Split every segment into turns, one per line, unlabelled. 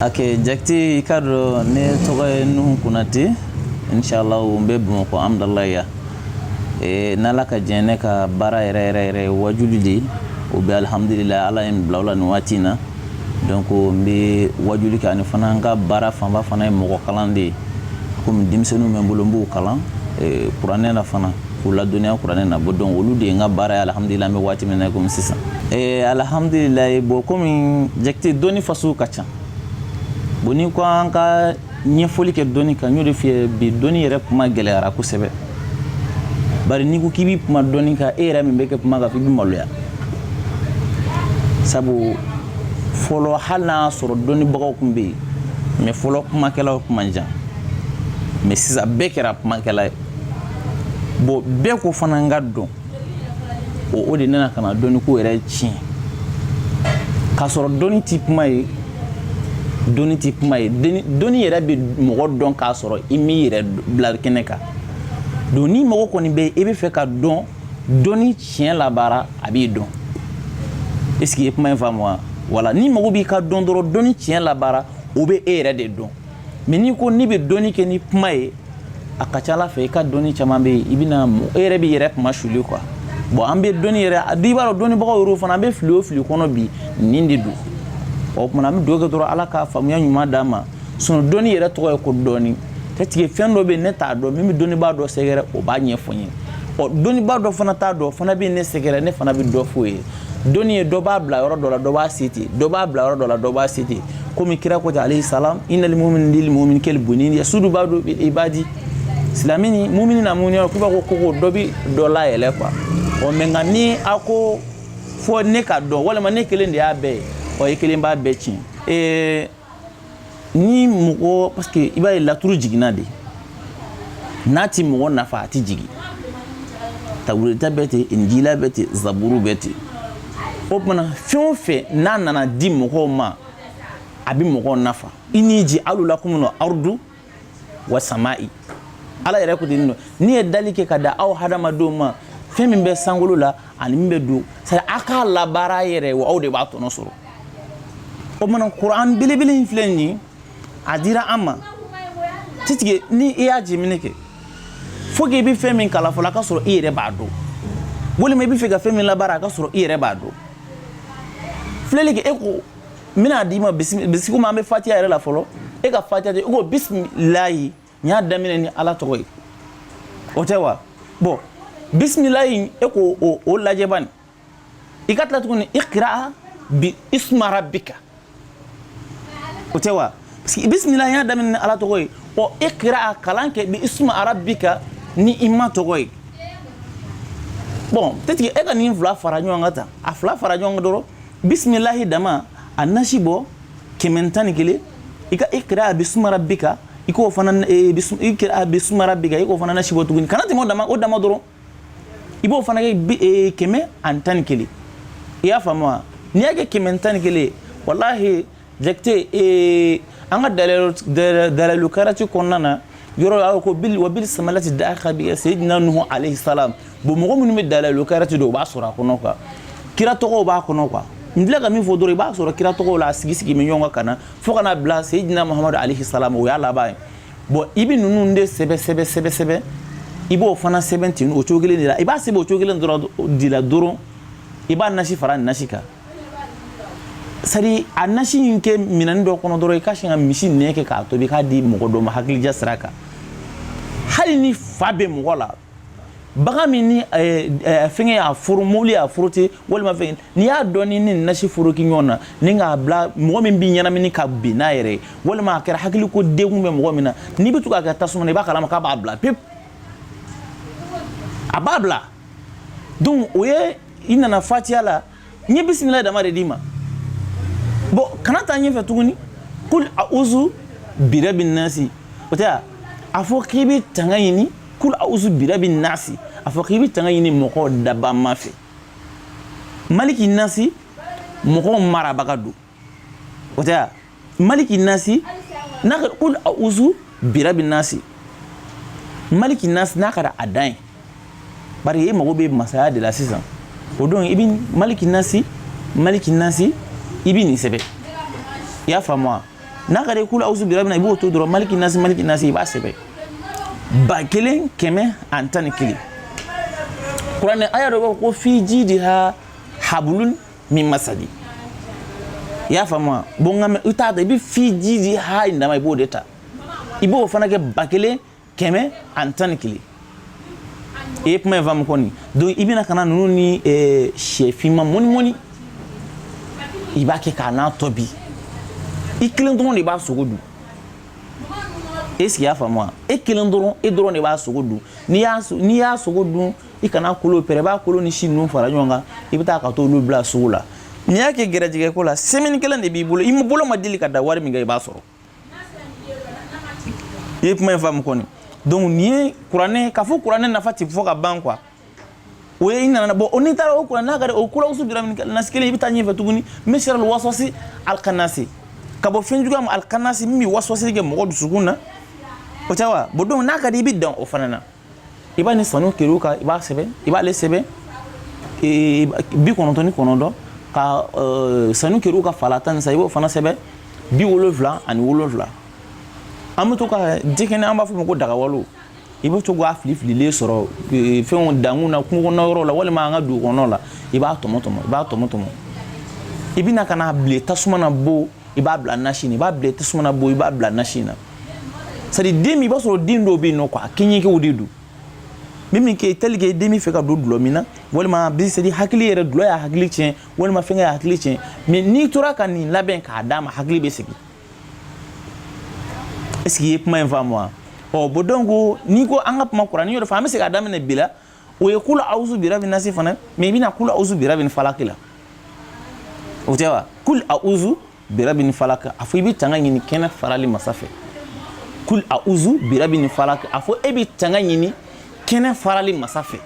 Ok, Jakite i k'a dɔn ne tɔgɔ ye Nuhu Konate inshallah n bɛ Bamakɔ Amdalaye ee n'Ala ka jɛn ne ka baara yɛrɛ yɛrɛ yɛrɛ ye wajuli de ye o bɛ alihamudulila Ala ye n bila o la nin waati in na donc n bɛ wajuli kɛ ani fana n ka baara fanba fana ye mɔgɔ kalan de ye komi denmisɛnninw bɛ n bolo n b'u kalan ee kuranɛ la fana k'u ladɔnniya kuranɛ na bon donc olu de ye n ka baara ye alhamdulila an bɛ waati min na komi sisan ee eh, alhamdulila bon komi jakite dɔnni fasɔn ka ca bon ni ko an ka ɲɛfɔli kɛ dɔnni kan n y'o de f'i ye bi dɔnni yɛrɛ kuma gɛlɛyara kosɛbɛ bari n'i ko k'i bɛ kuma dɔnni kan e yɛrɛ min bɛ kɛ kuma kan f'i bɛ maloya sabu fɔlɔ hali n'a y'a sɔrɔ dɔnnibagaw tun bɛ yen mɛ fɔlɔ kumakɛlaw tun man ca mɛ sisan bɛɛ kɛra kumakɛla ye bon bɛɛ ko fana n k'a dɔn o o de nana ka na dɔnniko yɛrɛ tiɲɛ k'a sɔrɔ dɔnni tɛ kuma ye dɔnni tɛ kuma ye dɔnni yɛrɛ bɛ mɔgɔ dɔn k'a sɔrɔ i m'i yɛrɛ bila kɛnɛ kan donc ni mɔgɔ kɔni bɛ i bɛ fɛ ka dɔn dɔnni tiɲɛ labaara a b'i dɔn est ce que i ye kuma in faamu wa wala ni mɔgɔ b'i ka dɔn dɔrɔn dɔnni tiɲɛ labaara o bɛ e yɛrɛ de dɔn mɛ n'i ko n'i bɛ dɔnni kɛ ni kuma ye a ka ca a la fɛ i ka dɔnni caman bɛ yen i bɛna e yɛrɛ b'i yɛrɛ kunmasuli kuwa bɔn an bɛ dɔnni yɛrɛ a b'a dɔn dɔnnibagaw yɛrɛ fana an bɛ fili o fili kɔnɔ bi nin de don o tuma an bɛ duwa kɛ dɔrɔn ala ka faamuya ɲuman d'an ma sinon dɔnni yɛrɛ tɔgɔ ye ko dɔɔni katugu fɛn dɔ bɛ ne t'a dɔn n bɛ dɔnnibaa dɔ sɛgɛrɛ o b'a ɲɛfɔ n ye ɔ dɔnnibaa dɔ fana t'a dɔn fana bɛ ne sɛgɛrɛ ne fana bɛ dɔ f'o ye dɔnni ye dɔ b'a bila yɔrɔ dɔ la dɔ b'a se ten dɔ b'a bila yɔrɔ dɔ la dɔ b'a se ten komi kira ko ten alayhi salam inal mumini lil mumini kal bunyani yasudu baadu bi baadi silamɛ ni mumini n'a mumini ɲɔgɔn k'u b'a ko ko dɔ bɛ dɔ layɛlɛ kuwa ɔ mɛ nka ni a ko fo ne k'a dɔn walima ne kelen de y'a bɛɛ ye o ye kelen b'a bɛɛ tiɲɛ ee ni mɔgɔ parce que i b'a ye laturu jiginna de n'a ti mɔgɔ nafa a ti jigin tawureta bɛ ten injila bɛ ten zaburu bɛ ten o tuma na fɛn o fɛn n'a nana di mɔgɔw ma a bɛ mɔgɔw nafa ini jaalu lakumul arudu wa sama'i ala yɛrɛ ko ten nɔ ne ye dali kɛ k'a d'aw hadamadenw ma fɛn min bɛ sankolo la ani min bɛ don c'est aw k'a labaara yɛrɛ wa aw de b'a tɔnɔ sɔrɔ o tuma na kuranɛ belebele in filɛ nin ye a dira an ma tigitigi ni i y'a jateminɛ kɛ fo k'i bɛ fɛn min kalan fɔlɔ a ka sɔrɔ i yɛrɛ b'a dɔn walima i bɛ fɛ ka fɛn min labaara a ka sɔrɔ i yɛrɛ b'a dɔn filɛli kɛ e ko n bɛna d'i ma puisque komi an bɛ fatiya yɛrɛ la fɔlɔ e ka fatiya tɛ e ko bisimilayi n y'a daminɛ ni ala tɔgɔ ye o tɛ wa bɔn bisimilayi e ko o o lajɛ bani i ka tila tuguni ikira bi isuma rabika o tɛ wa parce que bisimilayi n y'a daminɛ ni ala tɔgɔ ye ɔ ikira kalan kɛ bi isuma rabika ni i ma tɔgɔ ye bɔn peut-être e ka nin fila fara ɲɔgɔn kan tan a fila fara ɲɔgɔn kan dɔrɔn bisimilahi dama a nasi bɔ kɛmɛ tan ni kelen i ka ikira bi isuma rabika i k'o fana ikira bi isuma rabika i k'o fana nasi bɔ tuguni kana tɛmɛ o dama o dama dɔrɔn i b'o fana kɛ kɛmɛ ani tan ni kelen i y'a faamu wa n'i y'a kɛ kɛmɛ tan ni kelen walahi Jakite ee an ka dalilu kɛrati kɔnɔna na yɔrɔ la ko wa bi samalati daka bi seyidina nuhu alehi salam bon mɔgɔ minnu bɛ dalilu kɛrati dɔn o b'a sɔrɔ a kɔnɔ kuwa kira tɔgɔ b'a kɔnɔ kuwa n filɛ ka min fɔ dɔrɔn i b'a sɔrɔ kira tɔgɔ la a sigi sigi bɛ ɲɔgɔn kan ka na fo ka na bila seyidina mamadu alehi salam o y'a laban ye bɔn i bɛ ninnu de sɛbɛn sɛbɛn sɛbɛn sɛbɛn i b'o fana sɛbɛn ten o cogo kelen de la i b'a sɛbɛn o cogo kelen dɔrɔn de la dɔrɔn i b'a nasi fara nasi kan sari a nasi in kɛ minɛni dɔ kɔnɔ dɔrɔn i ka sin ka misi nɛn kɛ k'a tobi k'a di mɔgɔ dɔ ma hakilija sira kan hali ni fa bɛ mɔgɔ la bagan min ni eh, eh, fɛngɛ y'a foro mobili y'a foro ten walima fɛn n'i y'a dɔn ni ni nasi foroki ɲɔgɔn na ni k'a bila mɔgɔ min b'i ɲɛnamini ka bin n'a yɛrɛ ye walima a kɛra hakili ko degun bɛ mɔgɔ min na n'i bɛ to k'a kɛ tasuma na i b'a kalama k'a b'a bila pewu a b'a bila donc o ye i nana fatiya la n ye bisimila dama de d'i ma bɔn kana taa ɲɛfɛ tuguni kul auzu birabi nasi o tɛ wa a fɔ k'i bɛ tanga ɲini kul auzu birabi nasi a fɔ k'i bɛ tanga ɲini mɔgɔw dabaa ma fɛ maliki nasi mɔgɔw marabaga don o tɛ maliki nasi n'a ka kul a'uzu birabi nasi maliki nasi n'a kɛra a dan ye bari e mago bɛ masaya de la sisan o don i bɛ maliki nasi maliki nasi i bɛ nin sɛbɛn i y'a faamu wa n'a ka di kul a'uzu birabi na i b'o to dɔrɔn maliki nasi maliki nasi i b'a sɛbɛn ba kelen kɛmɛ ani tan ni kelen kuranɛ aya dɔ b'a fɔ ko fi jidiha habulun min masadi i y'a faamu wa bon nka mais i t'a ta i bɛ fi jidiha in dama i b'o de ta i b'o fana kɛ ba kelen kɛmɛ ani tan ni kelen i ye kuma in faamu kɔni donc i bɛna ka na ninnu ni eh, syɛ finman mɔni mɔni i b'a kɛ k'a na tobi i kelen dɔrɔn de b'a sogo dun est-ce que i y'a faamu wa e kelen dɔrɔn e dɔrɔn de b'a sogo dun n'i y'a sogo dun i kana kolo pɛrɛ i b'a kolo ni si ninnu fara ɲɔgɔn kan i bɛ taa ka t'olu bila sugu la n'i y'a kɛ gɛrɛjɛgɛ ko la semaine kelen de b'i bolo i bolo ma deli ka da wari min kɛ i b'a sɔrɔ i ye kuma in faamu kɔni donc nin ye kuranɛ k'a fɔ kuranɛ nafa tɛ fɔ ka ban quoi o ye i nana bon o n'i taara o kuranɛ n'a ka di o kula awusu bira bin nasi kelen i bɛ taa ɲɛfɛ tuguni min sari waswasi alikanasi ka bɔ fɛn juguya ma alikanasi min bɛ waswasili kɛ mɔgɔ dusukun na o tɛ wa bon donc n'a ka di i bɛ dan o fana na i b'a ni sanukiriwuka i b'a sɛbɛn i b'ale sɛbɛn bi kɔnɔntɔn ni kɔnɔntɔn ka sanukiriwuka fala tansa i b'o fana sɛbɛn bi wolonfila ani wolonfila an bɛ to ka jikɛnɛ an b'a fɔ o ma ko dagawalo i bɛ to k'a fili fililen sɔrɔ fɛnw dankun na kungo kɔnɔ yɔrɔ la walima an ka dugu kɔnɔ la i b'a tɔmɔ tɔmɔ i b'a tɔmɔ tɔmɔ i bɛna ka n'a bilen tasuma na bon i b'a bila nasi na i b'a bilen tasuma na bon i b'a bila nasi na c'est à dire den min i b'a sɔrɔ den dɔw bɛ yen nɔ quoi a kɛɲɛkew de don min min kɛ tel que den bɛ fɛ ka don dulɔ min na walima bi c'est à dire hakili yɛrɛ dulɔ y'a hakili tiɲɛ walima fɛnkɛ y'a hakili tiɲɛ mais n'i tora ka nin labɛn k'a d'a ma hakili bɛ segin est ce que i ye kuma in faamu wa ɔ bon donc n'i ko an ka kuma kuranɛ yɔrɔ fɛ an bɛ se k'a daminɛ bi la o ye kula awusu bira bin nasi fana mais i bɛna kula awusu bira bin falaki la o tɛ wa kul awusu bira bin falaki a fɔ i bɛ tanga ɲini kɛnɛ farali masa fɛ kul awusu bira bin falaki a fɔ e bɛ tanga ɲini kɛnɛ farali masa fɛ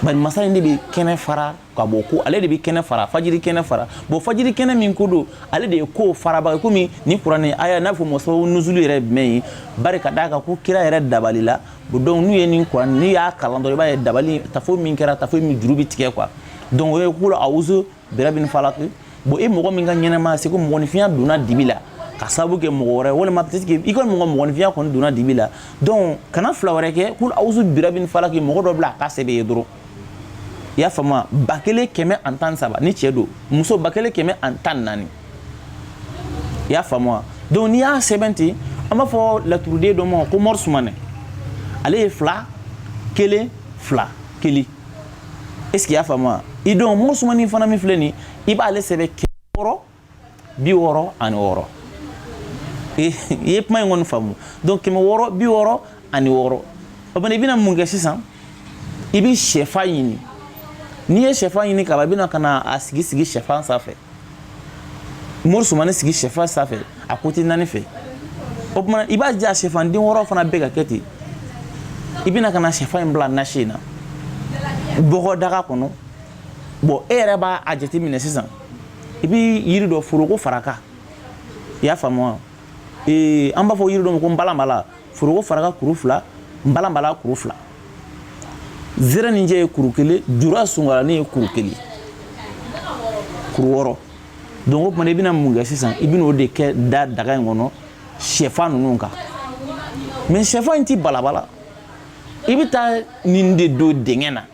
bari masa in de bɛ kɛnɛ fara ka bɔ ko ale de bɛ kɛnɛ fara fajiri kɛnɛ fara bon fajiri kɛnɛ min ko don ale de ye ko farabaga komi ni kuranɛ aya n'a fɔ mɔsɔn nuzulu yɛrɛ ye jumɛn ye bari ka d'a kan ko kira yɛrɛ dabalila bon donc n'u ye nin kuranɛ n'i y'a kalan dɔrɔn i b'a ye dabali tafo min kɛra tafo min juru bɛ tigɛ quoi donc o ye kula awuzu bira bin falak bon e mɔgɔ min ka ɲɛnɛmaya c'est ko mɔgɔninfinya donna dibi la ka sababu kɛ mɔgɔ wɛrɛ walima peut être que i kɔni mɔgɔ mɔgɔninfinya kɔni donna dibi la donc kana fila wɛrɛ kɛ kul awuzu bira bin falak mɔgɔ dɔ bila a ka sɛbɛn ye dɔrɔn i y'a faamu ba kelen kɛmɛ ani tan saba ni cɛ don muso ba kelen kɛmɛ ani tan naani i y'a faamu wa donc n'i y'a sɛbɛn ten an b'a fɔ laturuden dɔ ma ko mɔri sumanɛ ale ye fila kelen fila kelen est ce que i y'a faamu wa i donc mɔri sumanɛ fana min filɛ nin i b'ale sɛbɛn kɛmɛ wɔɔrɔ bi wɔɔrɔ ani wɔɔrɔ i ye kuma in kɔni faamu donc kɛmɛ wɔɔrɔ bi wɔɔrɔ ani wɔɔrɔ o fana i bɛna mun kɛ sisan i bɛ sɛfan ɲini n'i ye sɛfan ɲini ka ban i bɛna ka na a sigi sigi sɛfan sanfɛ mɔri sumanɛ sigi sɛfan sanfɛ a côté naani fɛ o tuma i b'a ja sɛfan den wɔɔrɔ fana bɛɛ ka kɛ ten i bɛna ka na sɛfan in bila nasi in na bɔgɔ daga kɔnɔ bon e yɛrɛ b'a a jateminɛ sisan i bɛ yiri dɔ foroko faraka i y'a faamu wa ee an b'a fɔ yiri dɔ ma ko nbalanbala foroko faraka kuru fila nbalanbala kuru fila zereninjɛ ye kuru kelen jura sungalani ye kuru kelen kuru wɔɔrɔ donc o tuma i bɛna mun kɛ sisan i bɛna o de kɛ da daga in kɔnɔ sɛfan ninnu kan mais sɛfan in ti balabala i bɛ taa nin de don dingɛ na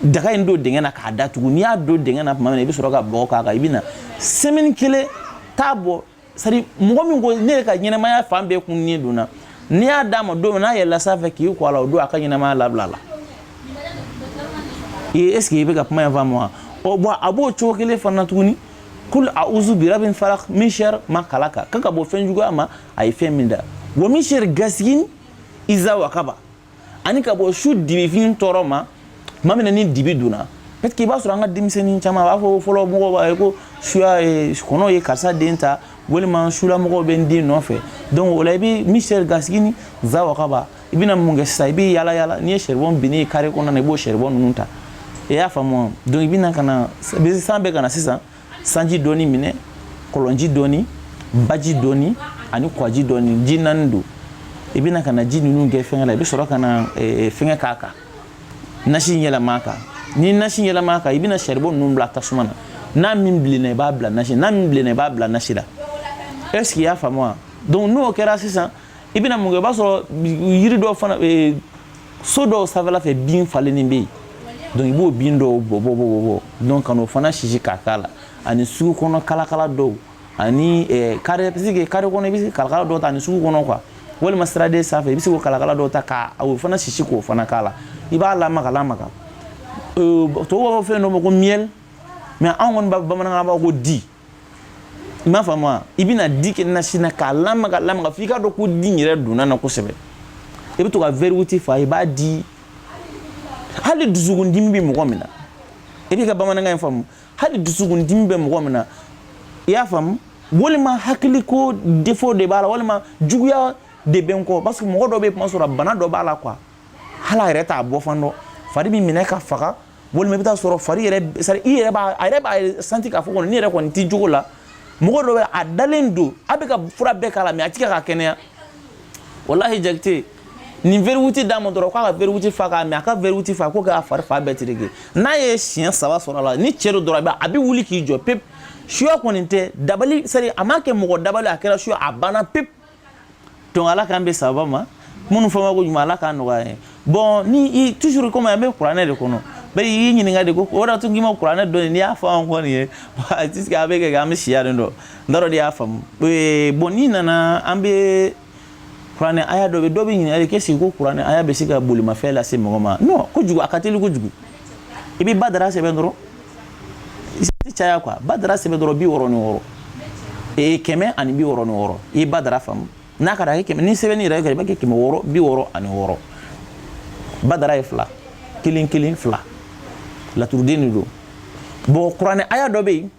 daga in don dingɛ na k'a datugu n'i y'a don dingɛ na tuma min na i bɛ sɔrɔ ka bɔgɔ k'a kan i bɛ na semaine kelen t'a bɔ c'est-à-dire mɔgɔ min ko ne yɛrɛ ka ɲɛnɛmaya fan bɛɛ kunnen donna n'i y'a d'a ma don min n'a yɛlɛla sanfɛ k'i ko a la o don a ka ɲɛnɛmaya labilala ee est ce que i bɛ ka kuma in faamu wa ɔ bon a b'o cogo kelen fana tuguni kul auzu birabin falak min sharri ma kalaka kan ka ka bɔ fɛn juguya ma a ye fɛn min da wa min sharri gasigin iza wakaba ani ka bɔ su dibifin tɔɔrɔ ma tuma min na ni dibi donna peut-être i b'a sɔrɔ an ka denmisɛnnin caman a b'a fɔ fɔlɔ mɔgɔw b'a ye ko suya ye kɔnɔ ye karisa den ta walima sulamɔgɔw bɛ n den nɔfɛ donc o la i bɛ min sharri gasigin iza wakaba i bɛna mun kɛ sisan i bɛ yaala yaala n'i ye charbon binnen ye carré kɔnɔna na i b'o charbon ninnu ta i y'a faamu donc i bɛna ka na san bɛ ka na sisan sanji dɔɔni minɛ kɔlɔnji dɔɔni baji dɔɔni ani kɔji dɔɔni ji naani don i bɛna ka na ji ninnu kɛ fɛngɛ la i bɛ sɔrɔ ka na eh, fɛngɛ k'a kan nasi yɛlɛma a kan ni nasi yɛlɛma a kan i bɛna charbon ninnu bila tasuma na n'a min bilenna i b'a bila nasi n'a min bilenna i b'a bila nasi la est ce que i y'a faamu wa donc n'o kɛra sisan i bɛna mun kɛ i b'a sɔrɔ yiri dɔ fana eh, so dɔw sanfɛla fɛ bin falennen bɛ yen donc i b'o bin dɔw bɔ bɔ bɔ bɔ bɔ donc ka n'o fana sisi k'a k'a la ani sugu kɔnɔ kalakala dɔw ani eh, carré parce que carré kɔnɔ i bɛ se kalakala dɔw ta ani sugu kɔnɔ quoi walima siraden sanfɛ i bɛ se k'o kalakala dɔw ta ka o fana sisi k'o fana k'a la i b'a lamaga lamaga tubabuw b'a fɔ fɛn dɔ ma ko miel mais anw kɔni b'a bamanankan b'a ko di i m'a faamu wa i bɛna di kɛ nasi na k'a lamaga lamaga f'i k'a dɔn ko di in yɛrɛ donna na kosɛbɛ i bɛ to ka verre huit fa i b'a di hali dusukundimi bɛ mɔgɔ min na i bɛ ka bamanankan in faamu hali dusukundimi bɛ mɔgɔ min na i y'a faamu walima hakiliko défaut de b'a la walima juguya de bɛ n kɔ parce que mɔgɔ dɔ bɛ kuma sɔrɔ bana dɔ b'a la quoi hali a yɛrɛ t'a bɔ fan dɔn fari bɛ minɛ ka faga walima i bɛ taa sɔrɔ fari yɛrɛ c'est-à-dire i yɛrɛ b'a a yɛrɛ b'a senti k'a fɔ kɔni ne yɛrɛ kɔni tɛ cogo la mɔgɔ dɔ bɛ a dalen don a bɛ ka fura bɛɛ k'a la mais a tɛ ka kɛnɛya walahi jakite nin verre huit d'a ma dɔrɔn k'a ka verre huit fa k'a min a ka verre huit fa ko k'a fari fan bɛɛ tereke n'a ye siɲɛ saba sɔrɔ a la ni cɛ don dɔrɔn a bɛ wuli k'i jɔ pep suya kɔni tɛ dabali c'est-à-dire a ma kɛ mɔgɔ dabali a kɛra suya a banna pep donc ala k'an bɛn sababa ma minnu fɔ ma ko ɲuman ala k'a nɔgɔya ye bon ni toujours comme an bɛ kuranɛ de kɔnɔ bɛɛ y'i ɲininka de ko o de tun k'i ma kuranɛ dɔn n'i y'a fɔ an kɔni ye puisque a bɛ kɛ an bɛ siya de dɔn n t'a dɔn de y'a faamu bon n'i nana an bɛ kuranɛ aya dɔ bɛ dɔ bɛ ɲininkali kɛ sigi ko kuranɛ aya bɛ se ka bolimafɛn lase mɔgɔ ma non kojugu a ka teli kojugu i bɛ badara sɛbɛn dɔrɔn i tɛ caya quoi badara sɛbɛn dɔrɔn bi wɔɔrɔ ni wɔɔrɔ ee kɛmɛ ani bi wɔɔrɔ ni wɔɔrɔ i ye badara faamu n'a ka d'a ye kɛmɛ ni sɛbɛnni yɛrɛ kɛra i b'a kɛ kɛmɛ wɔɔrɔ bi wɔɔrɔ ani wɔɔrɔ badara ye fila kelen kelen fila laturuden de don bon kuranɛ aya dɔ bɛ yen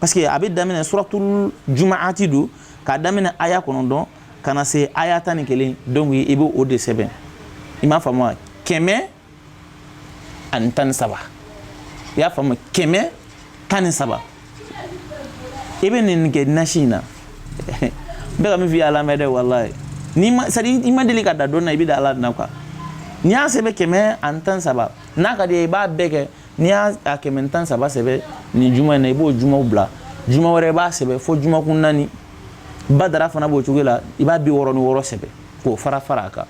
parce que a bɛ daminɛ suratul jumaati don k'a daminɛ aya kɔnɔntɔn ka na se aya tan ni kelen donc i bɛ o de sɛbɛn i m'a faamu wa kɛmɛ ani tan ni saba i y'a faamu kɛmɛ tan ni saba i bɛ nin kɛ nasi in na n bɛ ka min f'i ye a lamɛn dɛ walayi n'i ma c'est à dire i ma deli ka da dɔn na i bɛ da ala na quoi n'i y'a sɛbɛn kɛmɛ ani tan ni saba n'a ka d'i ye i b'a bɛɛ kɛ n'i y'a kɛmɛ tan saba sɛbɛn nin juma in na i b'o juma bila juma wɛrɛ i b'a sɛbɛn fo jumakun naani badara fana b'o cogo la i b'a bi wɔɔrɔ ni wɔɔrɔ sɛbɛ k'o fara fara a kan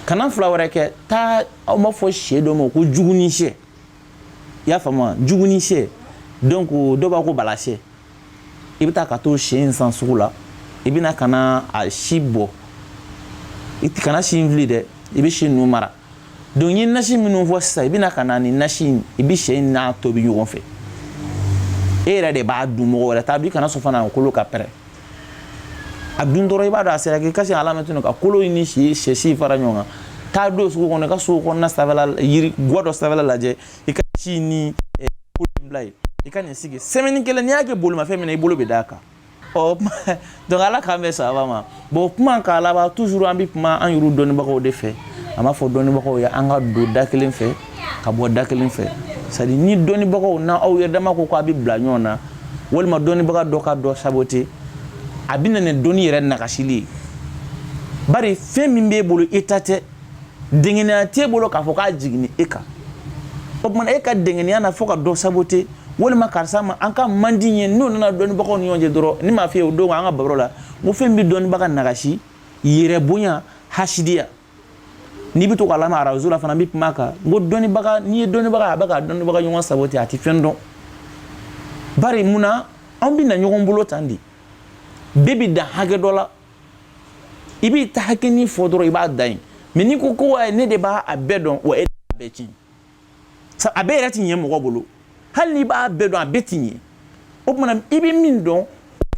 kana fila wɛrɛ kɛ taa aw b'a fɔ sɛ dɔ ma ko juguni sɛ i y'a faamu juguni sɛ donc dɔw b'a ko bala sɛ i bɛ taa ka t'o sɛ in san sugu la i bɛna ka na a si bɔ i kana si in fili dɛ i bɛ si ninnu mara donc n ye nasi minnu fɔ sisan i bɛna ka na ni nasi in i bɛ sɛ in n'a tobi ɲɔgɔn fɛ e yɛrɛ de b'a dun mɔgɔ wɛrɛ t'a dun i kana sɔn fana kolo ka pɛrɛn a dun dɔrɔn i b'a dɔn a sera k'i kasi a lamɛn tugun ka kolo in ni si sɛ si fara ɲɔgɔn kan taa don sugu kɔnɔ i ka so kɔnɔna sanfɛla yiri guwa dɔ sanfɛla lajɛ i ka si ni kolo in bila yen i ka nin sigi semaine kelen n'i y'a kɛ bolimafɛn min na i bolo bɛ d'a kan ɔ kuma donc ala k'an bɛn sababa ma bon kuma k'a laban toujours an bɛ kuma an yɛrɛ dɔnnibagaw de fɛ a b'a fɔ dɔnnibagaw ye an ka don da kelen fɛ ka bɔ da kelen fɛ c'est à dire ni dɔnnibagaw na aw yɛrɛ dama ko k'a bɛ bila ɲɔgɔn na walima dɔnnibaga dɔ ka dɔ saboter a bɛ na ni dɔnni yɛrɛ nagasili ye bari fɛn min b'e bolo e ta tɛ dengenya t'e bolo k'a fɔ k'a jiginni e kan o tuma e ka dengenya na fo ka dɔ saboter walima karisa ma an ka man di ye n'o nana dɔnnibagaw ni ɲɔgɔn cɛ dɔrɔn ne m'a f'i ye o don an ka baro la n ko fɛn bɛ dɔnnibaga nagasi yɛrɛbonya hasidiya n'i bɛ to k'a lamɛn arajo la fana n bɛ kuma a kan n ko dɔnnibaga n'i ye dɔnnibaga a bɛ ka dɔnnibaga ɲɔgɔn saboter a tɛ fɛn dɔn bari mun na anw bɛ na ɲɔgɔn bolo tan de bɛɛ bɛ dan hakɛ dɔ la i b'i ta hakɛnin fɔ dɔrɔn i b'a dan yen mais n'i ko ko wa ne de b'a a bɛɛ dɔn wa e b'a bɛɛ tiɲɛ sa a bɛɛ yɛrɛ ti ɲɛ mɔgɔ bolo hali n'i b'a bɛɛ dɔn a bɛɛ ti ɲɛ o tuma na i bɛ min dɔn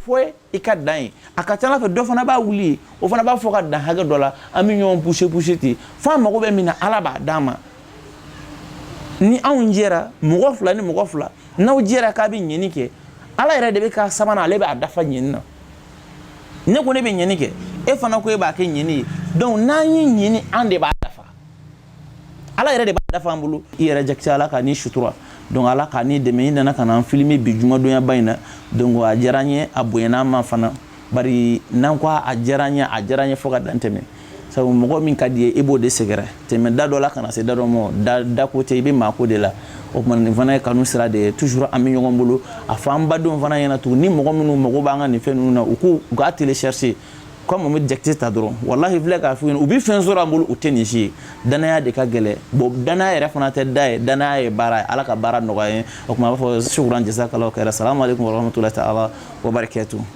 fɔ i ka dan ye a ka ca ala fɛ dɔ fana b'a wuli o fana b'a fɔ ka dan hakɛ dɔ la an bɛ ɲɔgɔn pousser pousser ten fo an mago bɛ min na ala b'a d'an ma ni anw jɛra mɔgɔ fila ni mɔgɔ fila n'aw jɛra k'a bɛ ɲɛni kɛ ala yɛrɛ de bɛ k'a sabanan ale b'a dafa ɲɛni na ne ko ne bɛ ɲɛni kɛ e fana ko e b'a kɛ ɲɛni ye donc n'an ye ɲɛni an de b'a dafa ala yɛrɛ de b'a dafa an bolo i yɛrɛ jakite ala ka ni sutura donc ala ka ni dɛmɛ i nana ka na an filmer bi jumadonyaba in na donc a diyara n ye a bonyana an ma fana bari n'an ko a diyara n ye a diyara n ye fo ka dan tɛmɛ sabu mɔgɔ min ka di i ye i b'o de sɛgɛrɛ tɛmɛ da dɔ la ka na se da dɔ ma da ko tɛ i bɛ maa ko de la o tuma nin fana ye kanu sira de ye toujours an bɛ ɲɔgɔn bolo a fɔ an badenw fana ɲɛna tugun ni mɔgɔ minnu mago b'an ka nin fɛn ninnu na u k'u u k'a télécharger comme n bɛ jakite ta dɔrɔn walahi filɛ k'a f'u ɲɛna u bɛ fɛn sɔrɔ an bolo u tɛ nin si ye danaya de ka gɛlɛ bon danaya yɛrɛ fana tɛ da ye danaya ye baara ye ala ka baara nɔgɔya ye o tuma a b'a fɔ shukran jazakallahu khairan salamu aleykum warahmatulahi taala wabarakatu